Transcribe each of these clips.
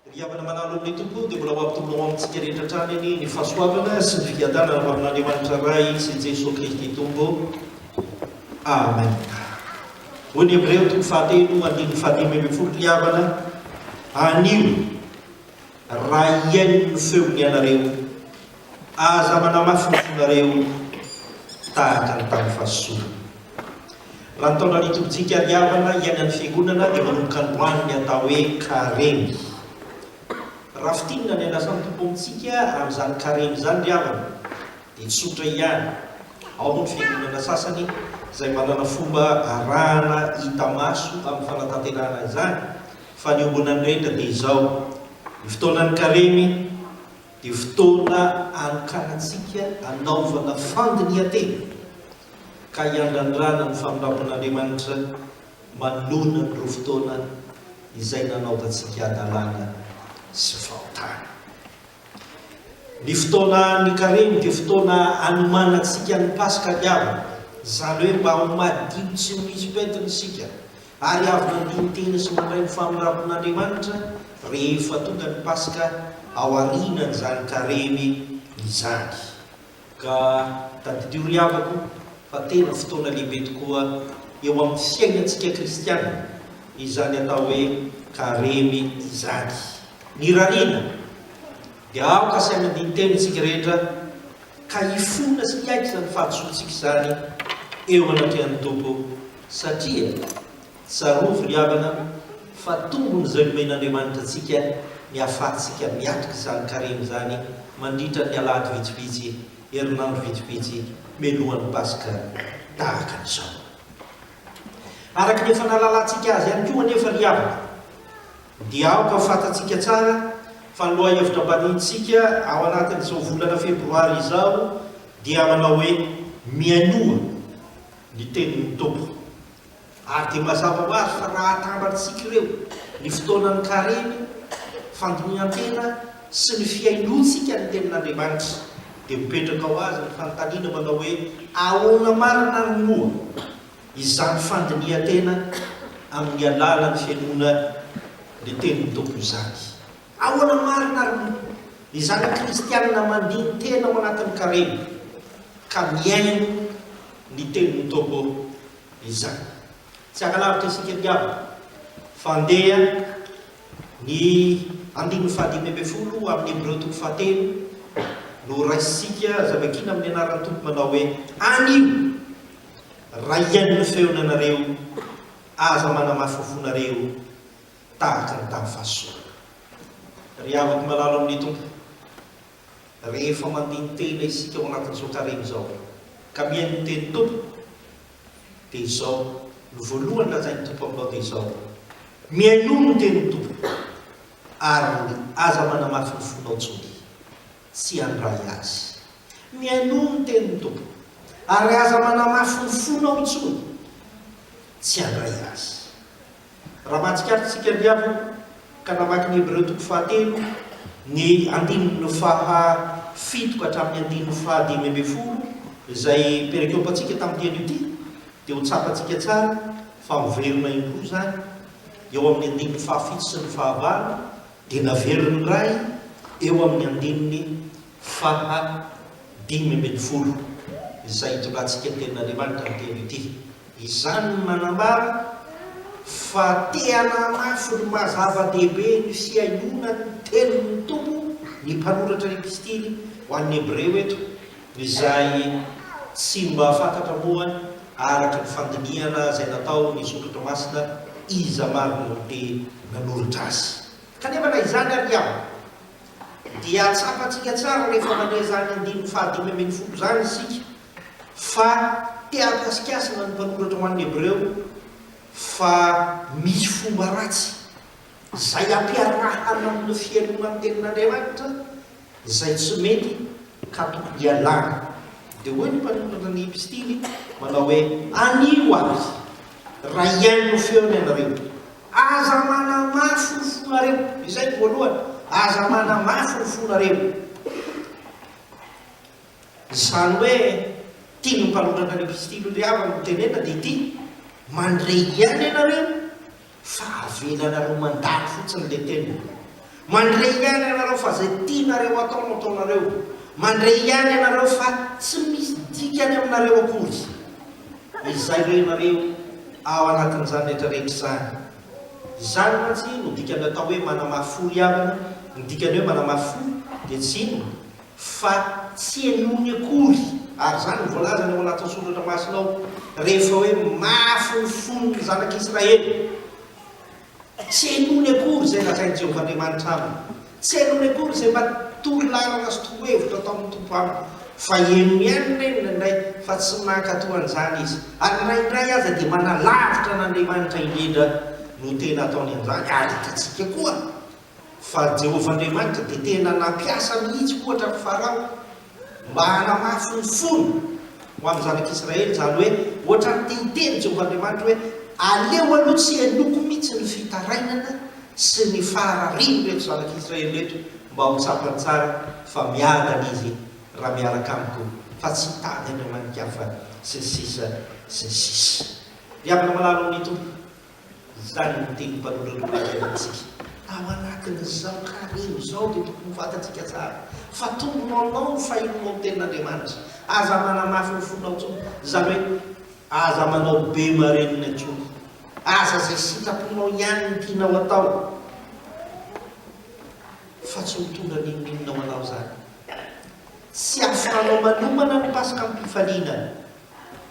Ry havana manala olona eto koa dia mbola ho ampitombo ao amintsika rehetra hatrany anie ny fahasoavana sy ny fiadanana avy amin'Andriamanitra Ray sy Jesoa Kristy Tompo. Amen. Hoy ny Hebreo toko fahatelo andininy fahadimy ambin'ny folo ry havana, anio raha hihaino ny feony ianareo Aza manamasomasonareo tahaka ny tamin'ny fahasosorana. Raha ny taona nitobintsika hadiavana hiaina ny Fiangonana dia manomboka androany ny atao hoe Karemy. Raha fintinina ny an'asan'ny Tompo amintsika amin'izany Karemy izany ry havana dia tsotra ihany. Ao moa ny Fiangonana sasany izay manana fomba arahana hita maso amin'ny fanatanterahana izany fa ny ombonan'ny rehetra dia izao, ny fotoanan'ny Karemy, Dia fotoana anokanantsika hanaovana fandinihan-tena ka hiandrandrana ny famindrampon'Andriamanitra manohina ny roa fotoana izay nanaovantsika hadalana sy fahotana. Ny fotoanan'ny Karemy dia fotoana hanomanantsika ny Paska diavina, izany hoe mba ho madio tsy misy pentina isika Ary avy nandoro tena sy mandray ny famirapon'Andriamanitra rehefa tonga ny Paska ao aorianan'izany Karemy izany. Ka tadidio ry havako fa tena fotoana lehibe tokoa eo amin'ny fiainantsika kristiana izany atao hoe Karemy izany. Ny rariana dia aoka sy amin'ny andinin-teny isika rehetra ka hifona sy hiaiky izany fahadisoantsika izany eo anatrehan'ny Tompo, satria tsarovy ry havana fa tombon'izay nomen'Andriamanitra antsika ny hahafahantsika miatrika izany karemy izany mandritra ny alahady vitsivitsy, herinandro vitsivitsy mialohan'ny Paska tahaka an'izao. Araka ny efa nahalalantsika azy ihany koa anefa ry havana, Dia aoka ho fantatsika tsara fa ny lohahevitra ambaniantsika ao anatin'izao volana febroary izao dia manao hoe, Mihainoa ny tenin'ny Tompo. Ary dia mazava ho azy fa raha atambatsika ireo, ny fotoanan'ny karemy, fandinihan-tena sy ny fihainoantsika ny tenin'Andriamanitra, dia mipetraka ho azy ny fanontaniana manao hoe, Ahoana marina ary moa? izany fandinihan-tena amin'ny alalan'ny fenoana ny tenin'ny Tompo izany. Ahoana marina àry moa ny zanaka kristianina mandini-tena ao anatin'ny Karemy ka mihaino ny tenin'ny Tompo izany? Tsy hankalavitra isika ny havana fa handeha ny andininy fahadimy ambin'ny folo ao amin'ny Hebreo toko fahatelo no horaisintsika zavakiana amin'ny anaran'ny Tompo manao hoe, Anio Raha hihaino ny feony ianareo, aza manamafy ny fonareo tahaka ny tamin'ny fahasosorana. Ry havako malalo amin'ny Tompo, rehefa mandini-tena isika ao anatin'izao karemy izao ka mihaino ny tenin'ny Tompo, dia izao no voalohany lazain'ny Tompo aminao, dia izao, Mihainoa ny tenin'ny Tompo, ary aza manamafy ny fonao intsony. tsy handray azy. Mialoha ny tenin'ny Tompo, ary aza manamafy ny fonao intsony tsy handray azy. Raha mahatsikaritsika ny havana ka namaky ny Hebreo toko fahatelo, ny andininy faha fito ka hatramin'ny andininy faha dimy ambin'ny folo, izay perikôpantsika tamin'ity anio ity, dia ho tsapantsika tsara fa miverina indroa izany eo amin'ny andininy faha fito sy ny faha valo, Dia naveriny indray eo amin'ny andininy faha dimy ambin'ny folo izay itondrantsika ny tenin'Andriamanitra ny teny ity. Izany no manambara fa te-hanamafy ny maha zava-dehibe ny fihainoana ny tenin'ny Tompo ny mpanoratra epistily ho an'ny Hebreo eto. Izay tsy mba fantatra moa araka ny fandinihana izay natao ny Zoky Toamasina iza marina no te nanoritra azy. Kanefa na izany ary dia dia tsapantsika tsara rehefa mandre izany andininy faha dimy ambin'ny folo izany isika fa te hahakasikasina ny mpanoratra ho an'ny Hebreo fa misy fomba ratsy izay ampiarahana amin'ny fihainoana ny tenin'Andriamanitra Izay tsy mety ka tokony ialana. Dia hoy ny mpanoratra ny epistily manao hoe, Anio aza, raha hihaino ny feony ianareo, aza manamafy ny fonareo. Izay no voalohany, aza manamafy ny fonareo. Izany hoe, tian'ny mpanoratra ny epistily ry havana hotenenina dia ity, Mandre ihany ianareo fa avela nareo mandalo fotsiny le tena mandre ihany ianareo fa zay tianareo atao no ataonareo mandre ihany ianareo fa tsy misy dikany aminareo akory izay renareo ao anatin'izany rehetra rehetra izany izany mantsy no dikany atao hoe manamafy fo ry havana ny dikany hoe manamafy fo dia tsy inona fa tsy henoiny akory, ary izany no voalazany ao anatin'ny Soratra Masina ao, rehefa hoe mafy ny fon'ny zanak'Israely. Tsy henoiny akory izay lazain'i Jehovah Andriamanitra aminy. Tsy henoiny akory izay mba toro lalana sy toro hevitra ataon'ny Tompo aminy, fa henony ihany indray indraindray fa tsy mankatò an'izany izy, ary na indray aza dia manalavitra an'Andriamanitra indrindra no tena ataony an'izany, ary hitantsika koa Fa Jehovah Andriamanitra dia tena nampiasa mihitsy ohatra an'i Farao mba hanamafy ny fony ho amin'ny zanak'Israely izany hoe ohatran'ny te hiteny Jehovah Andriamanitra hoe aleo aloha tsy henoiko mihitsy ny fitarainana sy ny fahararian'ireto zanak'Israely ireto mba ho tsapany tsara fa miadana izy raha miaraka amiko fa tsy hitady andriamani-kafa sy ny sisa sy ny sisa. Ry havana malala ao amin'ny Tompo. Izany no tenin'ny Mpanolotra teo anaty fiainantsika. Ao anatin'izao karemy izao dia tokony ho fantatsika tsara fa tombonao aminao ny fahirinao ny Tenin'Andriamanitra. Aza manamafy ny fonao intsony, izany hoe aza manao be marenina intsony. Aza izay sitraponao ihany no tianao hatao, fa tsy ho tonga n'inon'inona ho anao izany. Tsy ahafahanao manomana ny Paskam-pifaliana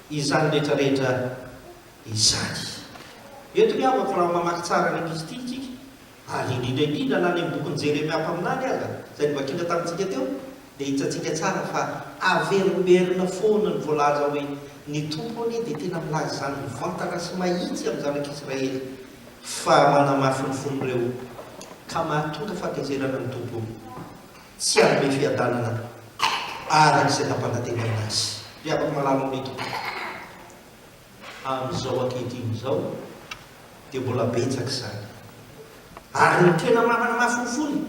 izany rehetra rehetra. izany. Eto ny havako raha mamaky tsara ny Epistiliny tsika, ary indrindra indrindra na any amin'ny bokin'i Jeremia mpaminany aza, izay novakiana tamintsika teo, dia hitantsika tsara fa averimberina foana ny voalaza hoe, Ny Tompo anie dia tena milaza izany mivantana sy mahitsy amin'ny zanak'Israely, fa manamafy ny fon'ireo ka mahatonga fahatezerana ny Tompo, tsy hanome fiadanana araka izay nampanantenaina azy. Ry havako malala ao amin'ny Tompo. amin'izao ankehitriny izao dia mbola betsaka izany. Ary ny tena manana mahafolofolo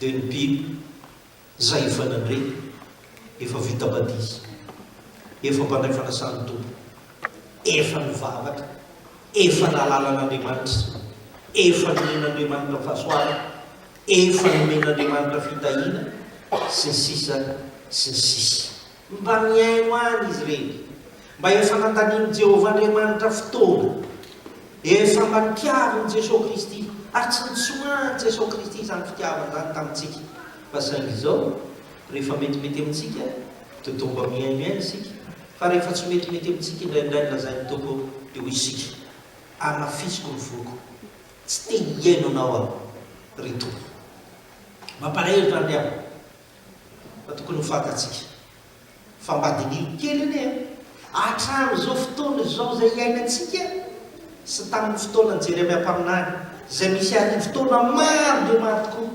dia ny biby izay efa nandre, efa vita batisa, efa mpandray fanasan'ny Tompo, efa nivavaka, efa nahalala an'Andriamanitra, efa nomen'Andriamanitra fahasoavana, efa nomen'Andriamanitra fitahiana, sy ny sisa sy ny sisa. Mba mihaino any izy ireny, mba efa nandanian'i Jehovah Andriamanitra fotoana. Efa mba nitiavin'i Jesoa Kristy, ary tsy nitsoahan'i Jesoa Kristy izany fitiavana izany tamintsika. Fa saingy izao, rehefa metimety amintsika, dia toa mba mihaino ihany isika, fa rehefa tsy metimety amintsika, indraindray lazain'ny Tompo dia hoy isika, Amafisiko ny foko. Tsy te hihaino Anao aho, ry Tompo. Mampaharery zany ry havana. Fa tokony ho fantatsika fa mba diniho kely anie an! Hatramin'izao fotoana izao izay iainantsika sy tamin'ny fotoanan'i Jeremia mpaminany, izay misy arivo taona maro dia maro tokoa,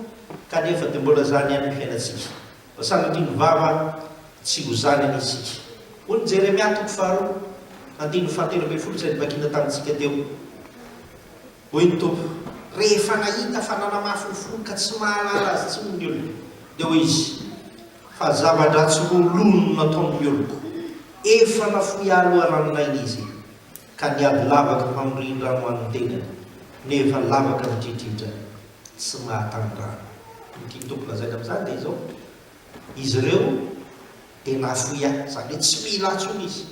kanefa dia mbola izany ihany ny fiainantsika. Fa sanatria ny vava an, tsy ho izany anie isika. Hoy ny Jeremia toko faharoa, andininy fahatelo ambin'ny folo izay novakina tamintsika teo. Hoy ny Tompo, Rehefa nahita fa nanamafy ny fony ka tsy mahalala azy intsony ny olona, dia hoy Izy, Fa zava-dratsy roa loha no nataon'ny oloko, Efa nafoy ahy loharanon-aina izy, ka niady lavaka hamorian-drano an'ny tenany, nefa lavaka midridridra, tsy mahatany rano. Ny tian'ny Tompo lazaina amin'izany dia izao, Izy ireo dia nafoy ahy, izany hoe tsy mila ahy intsony izy,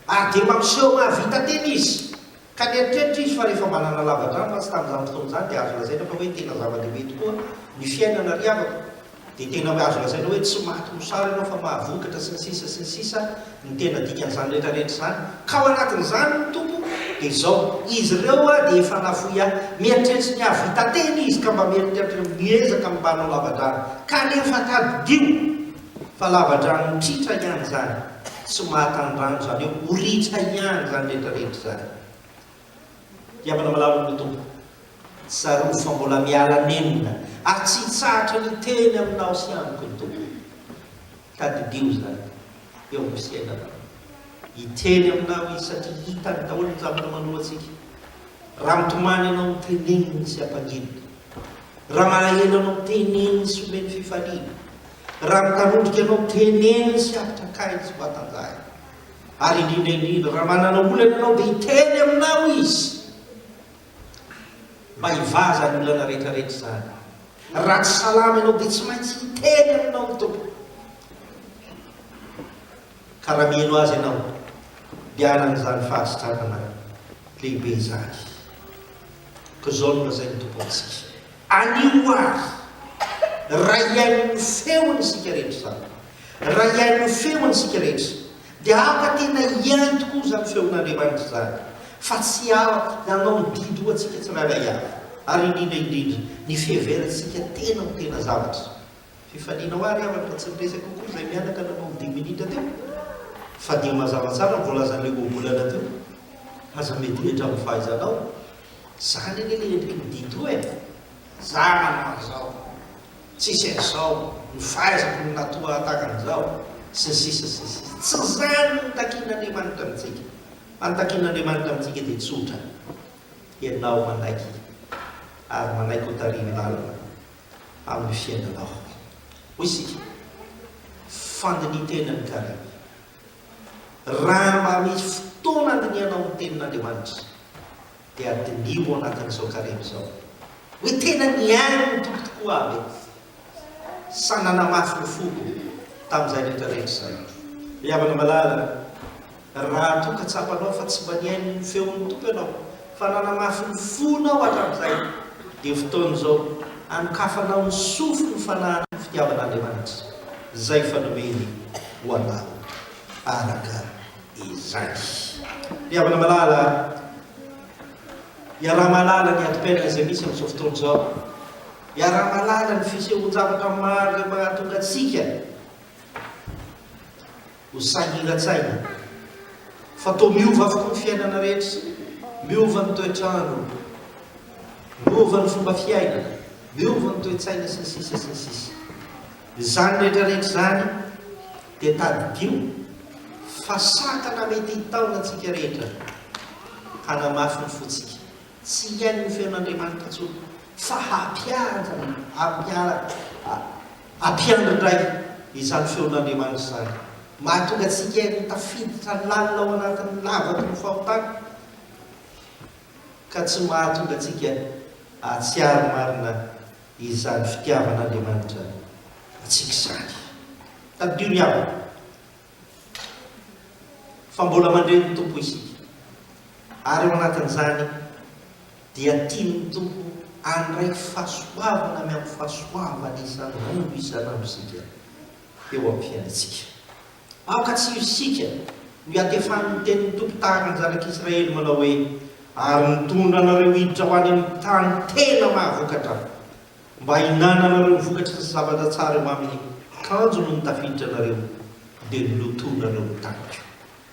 ary dia mampiseho mahavita tena izy, Ka nieritreritra izy fa rehefa mba nanalava an-drano mantsy tamin'izany fotoana izany dia azo lazaina fa hoe tena zava-dehibe tokoa ny fiainana ry havako, dia tena hoe azo lazaina hoe tsy maty mosary ianao fa mahavokatra sy ny sisa sy ny sisa ny tena dikan'izany rehetrarehetra izany. Ka ao anatin'izany hoy ny Tompo dia izao, izy ireo hoa dia efa nafoy ahy. Mieritreritry ny hahavita tena izy ka mba mieritreritra hoe miezaka ny mba hanao lava-drano, kanefa tadidio! Fa lavadrano mitriatra ihany izany sy mahatany rano izany hoe ho ritra ihany izany rehetra rehetra izany. Diavana malalo ny Tompo. Tsarovy fa mbola miala nenina ary tsy hitsahatra ny hiteny aminao sy amiko ny Tompo. Tadidio izany eo amin'ny fiainanao. Hiteny aminao Izy satria hitany daholo ny zavatra manoantsika. Raha mitomany ianao teneniny sy ampanginy. Raha malahelo ianao teneniny sy omeny fifaliana. Raha mitanondrika ianao, teneno sy apitrakay ny tsy mba tanjahina. Ary indrindra indrindra, raha manana olana ianao, dia hiteny aminao izy mba hivaha izany olana rehetra rehetra izany. Raha tsy salama ianao, dia tsy maintsy hiteny aminao ny Tompo. Ka raha mihaino azy ianao, dia hanana izany fahasitranana lehibe izany. Koa izao no lazain'ny Tompo amintsika. Anio ary, raha hihaino ny feony isika rehetra izany, raha hihaino ny feony isika rehetra, dia haka tena hihaino tokoa izany feon'Andriamanitra izany, fa tsy hiala hianao ny didy ho antsika tsirairay avy, ary indrindra indrindra ny fiheverantsika tena ho tena zavatra. Fifalianao ary havana fa tsy niresaka akory izay mianaka nanao ny dimy minitra teo, fa dia mazava tsara ny voalazan'ilay ohabolana teo. Aza miadohitra amin'ny fahaizanao. Zany anie le endriky ny Dido e! Za manao an'izao, tsisy an'izao, ny fahaizako no natoa tahaka an'izao, sy ny sisa sy ny sisa. Tsy zany no takin'Andriamanitra amintsika. Fa ny takin'Andriamanitra amintsika dia tsotra, ianao manaiky ary manaiky ho tarihin-dalana amin'ny fiainanao. Hoy isika, fandinihintena ny karemy. Raha mba misy fotoana aninianao ny Tenin'Andriamanitra, dia diniho ao anatin'izao karemy izao hoe, Tena nihaino ny Tompo tokoa aho ve? sa Nanamafy ny foko tamin'izay rehetra rehetra izay? Ry havana malala, raha toa ka tsapanao fa tsy mba nihaino ny feon'ny Tompo ianao fa nanamaso ny fonao hatramin'izay, dia fotoana izao hanokafanao ny sofy ny fanahiny ny fitiavan'Andriamanitra, izay efa nomeny ho anao araka izany. Ry havana malala, iaraha-mahalala ny adim-piainana izay misy amin'izao fotoana izao, iaraha-mahalala ny fisehoan-javatra maro izay mahatonga antsika, Ho sahiran-tsaina fa toa miova avokoa ny fiainana rehetra, miova ny toetr'andro, miova ny fomba fiaina, miova ny toe-tsaina sy ny sisa sy ny sisa. Izany rehetra rehetra izany dia tadidio fa sakana mety hitaona antsika rehetra hanamafy ny fontsika. Tsy hihaino ny feon'Andriamanitra intsony, fa hampiandry ny, hampiandry, hampiandry indray izany feon'Andriamanitra izany. Mahatonga antsika ho tafiditra lalina ao anatin'ny lavaky ny fahotana, ka tsy mahatonga antsika hahatsiaro marina izany fitiavan'Andriamanitra antsika izany. Tadidio ny havana. fa mbola mandre ny Tompo isika, ary ao anatin'izany dia tian'ny Tompo handray fahasoavana miampy fahasoavana isan'andro isan'androsika eo amin'ny fiainantsika. Aoka tsy ho isika no hiantefan'ny tenin'ny Tompo tahaka ny zanak'Israely manao hoe, Ary nitondra anareo hiditra ho any amin'ny tany tena mahavokatra, Mba hinananareo ny vokatry ny zavatra tsara eo aminy, kanjo no nitafiditra anareo, dia nolotoinareo ny tanako.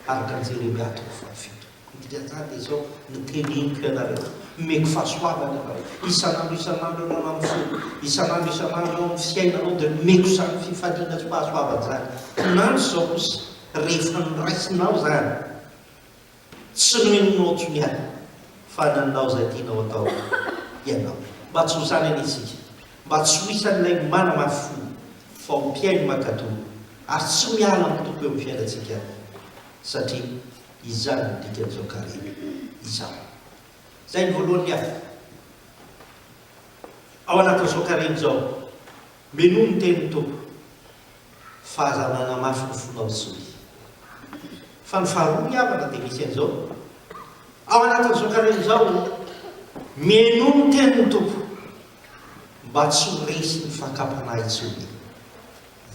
Araka ny Jeremia toko fahafito. Ny dikan'izany dia izao, Noteneniko ianareo, omeko fahasoavana ianareo, isan'andro isan'andro ianao nanontsoako, isan'andro isan'andro eo amin'ny fiainanao dia nomeko izany fifaliana sy fahasoavana izany. Kinanjo izao kosa, rehefa noraisinao izany. Tsy renao tony aho fa nanao izay tianao atao ianao mba tsy ho zany anie isika, mba tsy ho isan'ilay manamafy fo fa ho mpihaino mankatò ary tsy miala amin'ny Tompo eo amin'ny fiainantsika satria izany no dikan'izao Karemy izao. Izay ny voalohany ny afo ao anatin'izao Karemy izao. Minoa ny tenin'ny Tompo, fa aza manamafy ny fonao intsony. Fa ny faharoa ny havana dia misy an'izao, ao anatin'izao karemy izao, minoa ny tenin'ny Tompo, mba tsy ho resy ny fakam-panahy intsony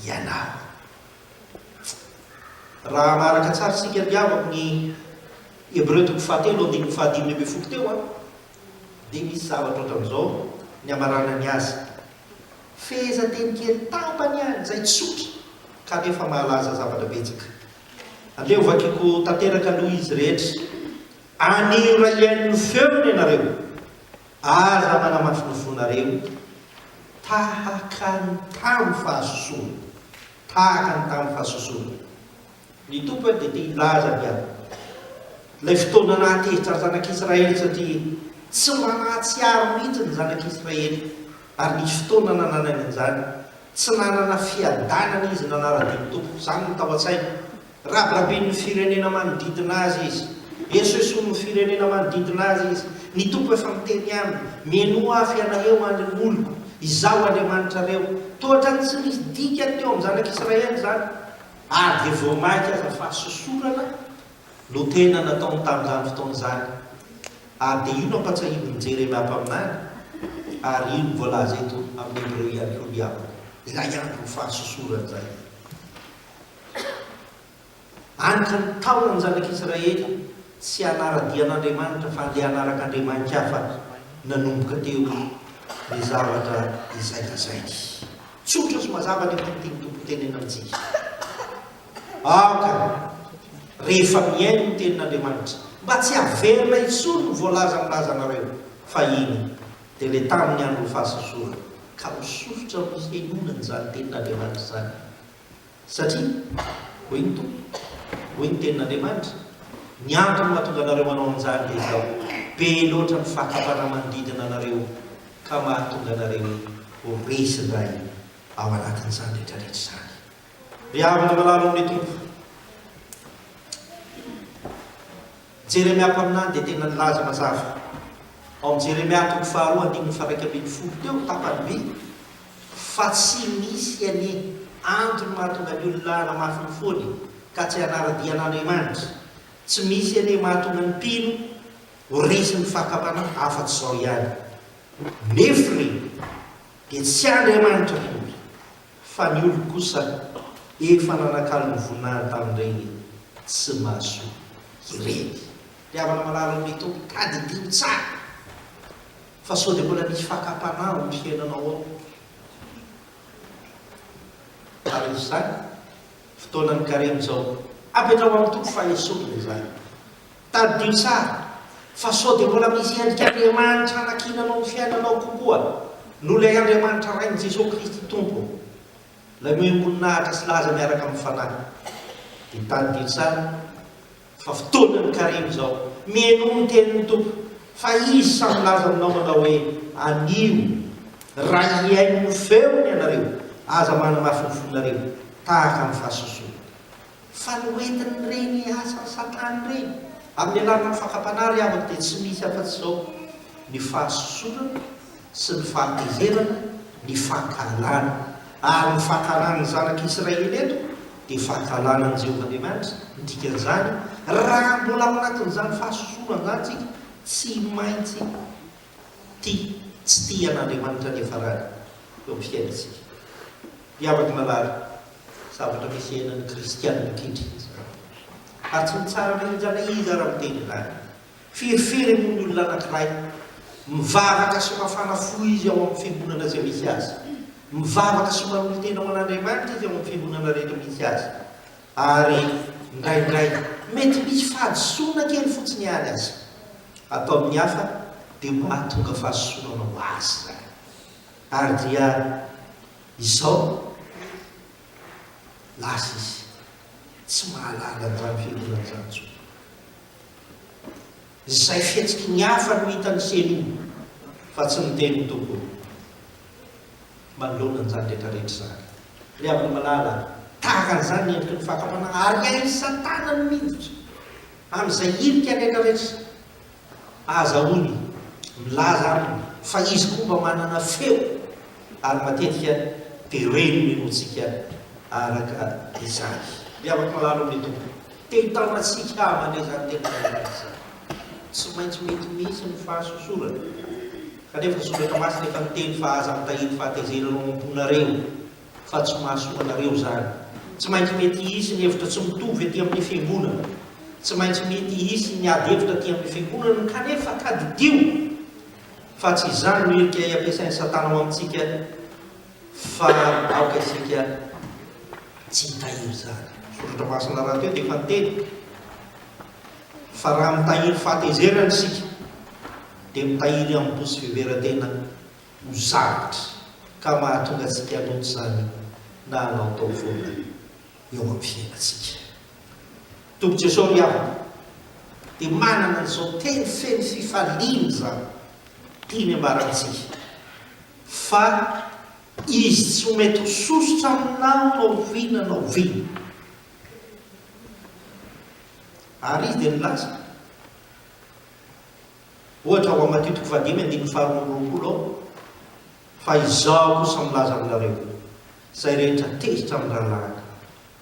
ianao. Raha manaraka tsara isika ry havako ny Hebreo toko fahatelo andininy fahadimy ambin'ny folo teo an, dia misy zavatra ohatran'izao ny amaranany azy, fehezanteny kely tapany ihany izay tsotra kanefa mahalaza zavatra betsaka. Andeha hovakiko tanteraka aloha izy rehetra. Anirahiany ny feony ianareo. Aza manamafy ny fonareo tahaka ny tamin'ny fahasosorana, tahaka ny tamin'ny fahasosorana. Ny Tompo dia te hilaza ny ahy ilay fotoana nahatezitra ny Zanak'i Israely satria tsy mba nahatsiaro mihitsy ny Zanak'i Israely ary nisy fotoana nananany an'izany. Tsy nanana fiadanana izy nanara-dia ny Tompo. Izany no tao an-tsainy. Rabirabin'ny firenena manodidina azy izy. Esoesoin'ny firenena manodidina azy izy. Ny Tompo efa miteny aminy, Mihainoa Ahy fa ianareo andry ny oloko. Izaho Andriamanitrareo. Toa ohatran'ny tsy nisy dikany teo amin'ny Zanak'i Israely izany. Ary dia vao mainka aza fa sosorana no tena nataony tamin'izany fotoana izany. Ary dia io no ampatsahivin' Jeremia mpaminany, ary io no voalaza eto amin'ny Hebreo ihany koa ny aminy, ilay andron'ny fahasosorana izay. Any ka nitaona ny zanak'Israely tsy hanara-dia an' Andriamanitra fa handeha hanaraka andriamani-kafa nanomboka teo ny zavatra izay lazainy. Tsotra sy mazava ny antony tian'ny Tompo hotenenina amintsika. Aoka rehefa mihaino ny Tenin'Andriamanitra mba tsy haverina intsony ny voalaza milaza anareo fa iny dia ilay tamin'ny andron'ny fahasosorana ka ho sosotra amin'ny fihainoana an'izany Tenin'Andriamanitra izany. Satria, hoy ny Tompo, hoy ny Tenin'Andriamanitra, ny antony mahatonga anareo manao an'izany dia izao, be loatra ny fakam-panahy manodidina anareo, ka mahatonga anareo ho resy indray ao anatin'izany rehetrarehetra izany. Ry havana malalo amin'ny Tompo, Jeremia mpaminany dia tena nilaza mazava ao amin'ny Jeremia toko faharoa andininy faharaika ambin'ny folo teo, tapany vy, Fa tsy misy anie antony mahatonga ny olona hanamafy ny fony ka tsy hanara-dia an'Andriamanitra. Tsy misy anie mahatonga ny mpino ho resy ny fakam-panahy afa-tsy izao ihany. Nefo ireny dia tsy Andriamanitra akory fa ny olona kosa efa nanakalo ny voninahiny tamin'ireny tsy mahasoa ireny. Ry havana malala ny Tompo, tadidio tsara. Fa sao dia mbola misy fakam-panahy ao amin'ny fiainanao ao. Araka izany, fotoana mikarena izao. Apetraho amin'ny toko fahesorina izany. Tadidio tsara fa sao dia mbola misy endrik'Andriamanitra anakiananao amin'ny fiainanao kokoa noho ilay Andriamanitra Rain'i Jesoa Kristy Tompo, ilay mihoim-boninahitra sy laza miaraka amin'ny Fanahy. Dia tadidio tsara. Fa fotoanan'ny karemy izao. Mihainoa ny tenin'ny Tompo, fa Izy sahy milaza aminao manao hoe, Anio, raha hihaino ny feony ianareo, aza manamafy ny fonareo, tahaka ny fahasosoana. Fa ny hoentin'ireny asan'i Satana ireny, amin'ny alalan'ny fakam-panahy ry havako, dia tsy misy afa-tsy izao, ny fahasosoana, sy ny fahatezerana, ny fankahalana. Ary ny fankahalana ny zanak'i Israely eto dia fankahalana an'i Jehovah Andriamanitra. Ny dikan'izany, raha mbola ao anatin'izany fahasosorana izany isika, tsy maintsy tia tsy tia an'Andriamanitra ny hiafarany eo amin'ny fiainantsika. Miavaka marary zavatra misy iainan'ny kristiana ankehitriny izany. Ary tsy mitsara na iza na iza raha miteny izany. Firifiry moa ny olona anankiray, mivavaka sy mafana fo izy ao amin'ny fiangonana izay misy azy, mivavaka sy manolo-tena ho an'Andriamanitra izy ao amin'ny fiangonana rehetra misy azy, ary indraindray mety misy fahadisoana kely fotsiny ihany aza ato amin'ny hafa, dia mahatonga fahasosorana ho azy izany. Ary dia izao, lasa izy tsy mahalala an'izany fiangonana izany intsony. Izay fihetsiky ny hafa no hitan'ny ceni fa tsy ny teny tokony. Manoloana an'izany rehetra rehetra izany, ry havana malala a, tahaka an'izany ny endriky ny fakam-panahy ary hain'i Satana ny miditra amin'izay hirika rehetra rehetra ahazahoany milaza aminy fa izy koa mba manana feo ary matetika dia reny ny lohantsika araka izany. Ry havako malala ao amin'ny Tompo. Teny tamantsika havana izany teny vahiny izany. Tsy maintsy mety mihitsy ny fahasosorana, kanefa soratra masina efa niteny fa aza mitahiry fahatezerana ao am-ponareo fa tsy mahasoa anareo izany. Tsy maintsy mety hisy ny hevitra tsy mitovy aty amin'ny fiangonana. Tsy maintsy mety hisy ny ady hevitra aty amin'ny fiangonana, kanefa tadidio fa tsy izany no hirika ampiasain'i Satana ao amintsika. Fa aoka isika tsy hitahiry izany. Soratra masina rahateo dia efa niteny fa raha mitahiry fahatezerana isika dia mitahiry ihanidoha sy fiveran-tena ho sarotra ka mahatonga antsika hanota izany na hanaotao foana eo amin'ny fiainantsika. Tompoko Jesoa ry havana dia manana an'izao teny feno fifaliana izany tiany ambarantsika. Fa izy tsy ho mety ho sosotra aminao na oviana na oviana. Ary izy dia nilaza, ohatra ao amin'ny Matio toko fahadimy andininy faharoa amby roapolo ao, Fa izao kosa milaza aminareo, izay rehetra tezitra amin'ny rahalahy,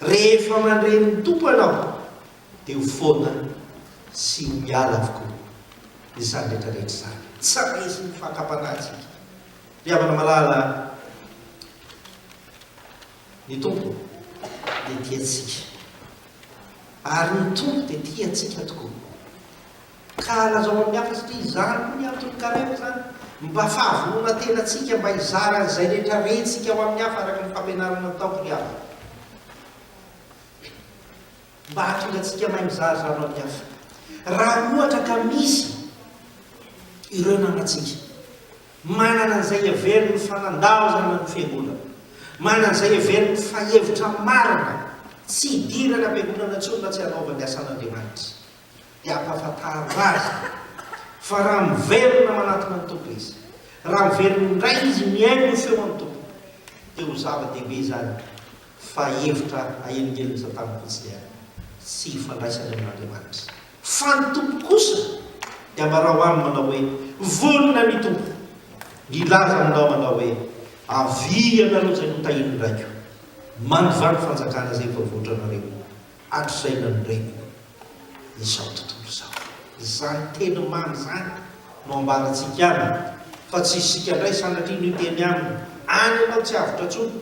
Rehefa mandre ny Tompo ianao dia ho foana sy ho miala avokoa izany rehetra rehetra izany. Tsy raisin' ny fakam-panahy isika. Ry havana malala, ny Tompo dia tia antsika, ary ny Tompo dia tia antsika tokoa. Ka lazao amin'ny hafa satria izany koa ny antony carem izany mba fahavonona tena tsika mba hizara an'izay rehetra rentsika ho amin'ny hafa araka ny fampianarana nataoko ry havana mba hahatonga antsika mahay mizara izany ho amin'ny hafa raha ohatra ka misy ireo namantsika manana an'izay heverin' ny fanandaozana ny fiangonana manana an'izay heverin' ny fahevitra marina tsy hidirana am-piangonana intsony raha tsy hanaovany asan'Andriamanitra dia ampahafantarina azy fa raha miverina manatona ny Tompo izy, raha miverina indray izy mihaino ny feon'ny Tompo, dia ho zava-dehibe izany fa hevitra ahelingelin'i Satana fotsiny ary tsy hifandraisany amin'Andriamanitra. Fa ny Tompo kosa dia ambarao aminy manao hoe, Vonona ny Tompo nilaza aminao manao hoe, Avia ianareo izay notahian'ny Raiko, mandovà ny fanjakana izay efa voatranareo, Hatrizay nanorenana izao tontolo izao. Izany teny mamy izany no ambarantsika aminy fa tsy isika indray sanatria no hiteny aminy, any ianao tsy avotra intsony,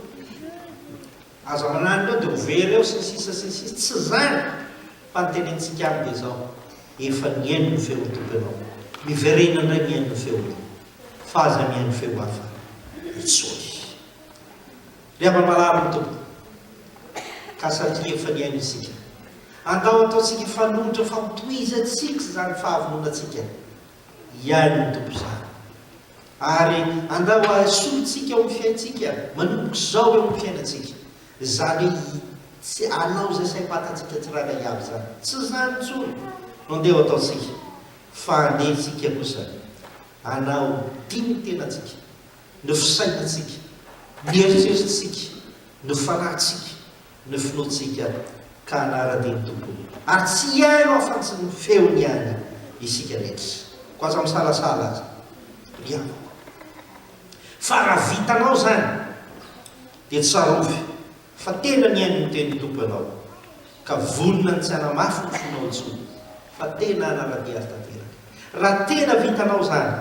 aza mananina eo dia ho very eo sy ny sisa sy ny sisa, tsy izany fa ny tenentsika aminy dia izao, efa nihaino ny feon'ny Tompo ianao, miverena indray mihaino ny feony fa aza mihaino feo hafa intsony. Miaba marary ny Tompo ka satria efa nihaino isika. Andao ataontsika fanoitra fa ho tohizantsika izany fahavononantsika hihaino ny Tompo izany. Ary andao hahasolontsika ao amin'ny fiaintsika manomboka izao eo amin'ny fiainantsika. Izany hoe tsy hanao izay saim-patantsika tsirairay avy izany. Tsy izany intsony no andeha ho ataontsika fa andeha isika kosa hanao dini-tenantsika ny fisainantsika, ny eritreritsika, ny fanahintsika, ny finoantsika ka hanara-dia ny Tompon'ny ary tsy hihaino afa-tsy ny feony ihany isika rehetra, koa aza misalasala aza ry havako fa raha vitanao izany dia tsarovy. Fa tena nihaino ny tenin'ny Tompo ianao, ka vonona ny tsy hanamafy ny fonao intsony, fa tena hanara-dia azy tanteraka. Raha tena vitanao izany,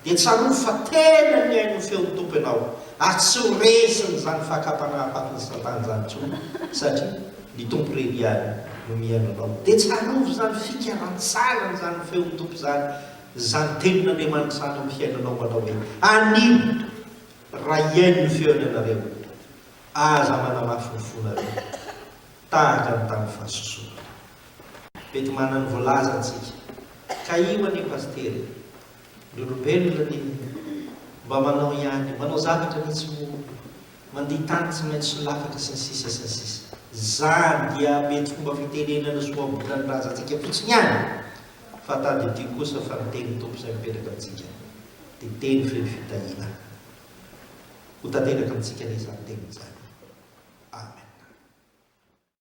dia tsarovy fa tena nihaino ny feon'ny Tompo ianao, ary tsy ho resin'izany fakam-panahy fatin'i Satana izany intsony, satria ny Tompo irery ihany no mihaino anao. Dia tsarovy izany fikarantsarany izany feon'ny Tompo izany, izany tenin'Andriamanitra izany eo amin'ny fiainanao manao hoe, Anio, raha hihaino ny feony ianareo, Aza manamafy ny fonareo tahaka ny tamin'ny fahasosoana. Mety manana ny voalazany tsika ka io anie Pasitera e! Ny olombelona anie mba manao ihany, manao zavatra anie tsy ho mandihy tany tsy maintsy solafaka sy ny sisa sy ny sisa. Izany dia mety fomba fitenenana sy ohabolana ny razantsika fotsiny ihany fa tadidio kosa fa ny tenin'ny Tompo izay mipetraka amintsika dia teny feno fitahiana. Ho tanteraka amintsika anie izany teny izany. Amen.